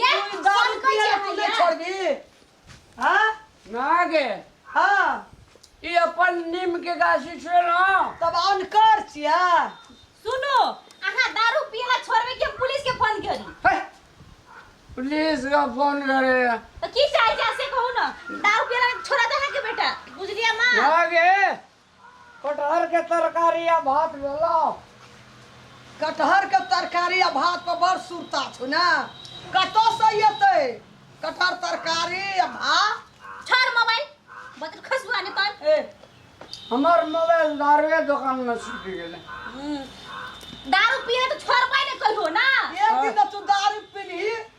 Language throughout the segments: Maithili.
ये तू दारू सब पिया कहि तू नहीं छोड़ दी हां ना गे हां ई अपन नीम के गाछी छे ना तब अनकर छिया सुनो अहाँ दारू पीना छोड़बे कि हम पुलिस के फोन करी हे, पुलिस का फोन करे तो की चाहे जा से कहू ना दारू पीना छोड़ा दे अहाँ के बेटा बुझलिया माँ ना गे कटहर के तरकारी आ भात भेला कटहर के तरकारी आ भात पर बड़ सुरता छौ ने कतौ से एतै कटहर तरकारी आ भात छोड़ मोबाइल बदल खसुआ ने तोर ए हमर मोबाइल दारुए दुकान में छूट गेलै दारू पिए तो छोड़ पाए ने कहियो ना एक दिन तू दारू पीलही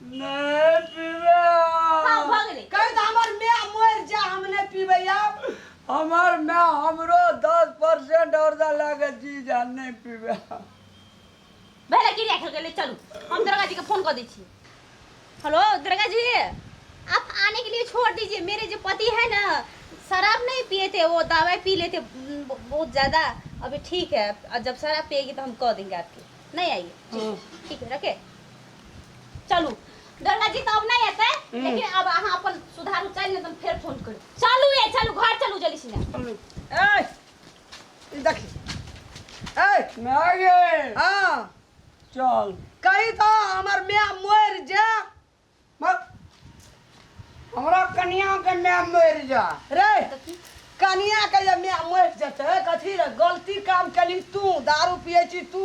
नहीं पीबे हाँ, भऽ गेलै। कहि दऽ हमर माय मरि जा हम नहि पीबै आब हमार मैं हमरो दस परसेंट और दा लागे जी जा नहीं पीबे भैया की राखल गेलै चलू हम दुर्गा जी के फोन कऽ दै छी हेलो दुर्गा जी आप आने के लिए छोड़ दीजिए मेरे जो पति है ना शराब नहीं पिए थे वो दवाई पी लेते उम, ब- बहुत ज़्यादा अभी ठीक है और जब शराब पिएगी तो हम कह देंगे आपके नहीं आइए ठीक है रखे चलू दुर्गा जी तऽ अब नहि एतै लेकिन अब अहाँ अपन सुधारू चलि ने तऽ हम फेर फोन करू चलू ए चलू घर चलू जल्दी से हमनी ए ई देखी ए माय गे हाँ चल कही तो हमर मैं मर जा मत हमरा कनियाके माय मरि जा रे कनियाके जे माय मरि जेतै कथी रे गलती काम केली तू दारू पियै छी तू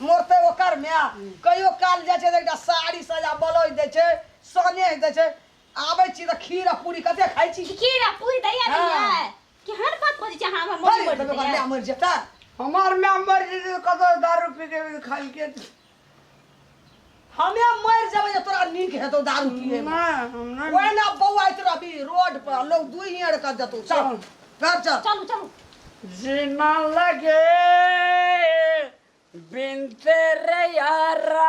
मरतै ओकर माय कहियो काल जाइ छै तऽ एकटा साड़ी सजा ब्लाउज दै छै सनेह दै छै आबै छी तऽ खीर आ पूरी कते खाइ छी खीर आ पूरी दैया हँ। दैया केहन बात बजै छै अहाँ हमरा मरि मरि जेतै ओकर माय मरि जेतै हमर माय मरि जेतै तऽ कतौ दारू पी के खाइके हमे मर जेबै जे तोरा नीक हेतौ दारू पिए ना हमरा ओए ना बौआइत रहबी रोड पर लोग दुई हियर कर देतौ चल घर चल चलू चलू जीना लगे बिन तेरे यारा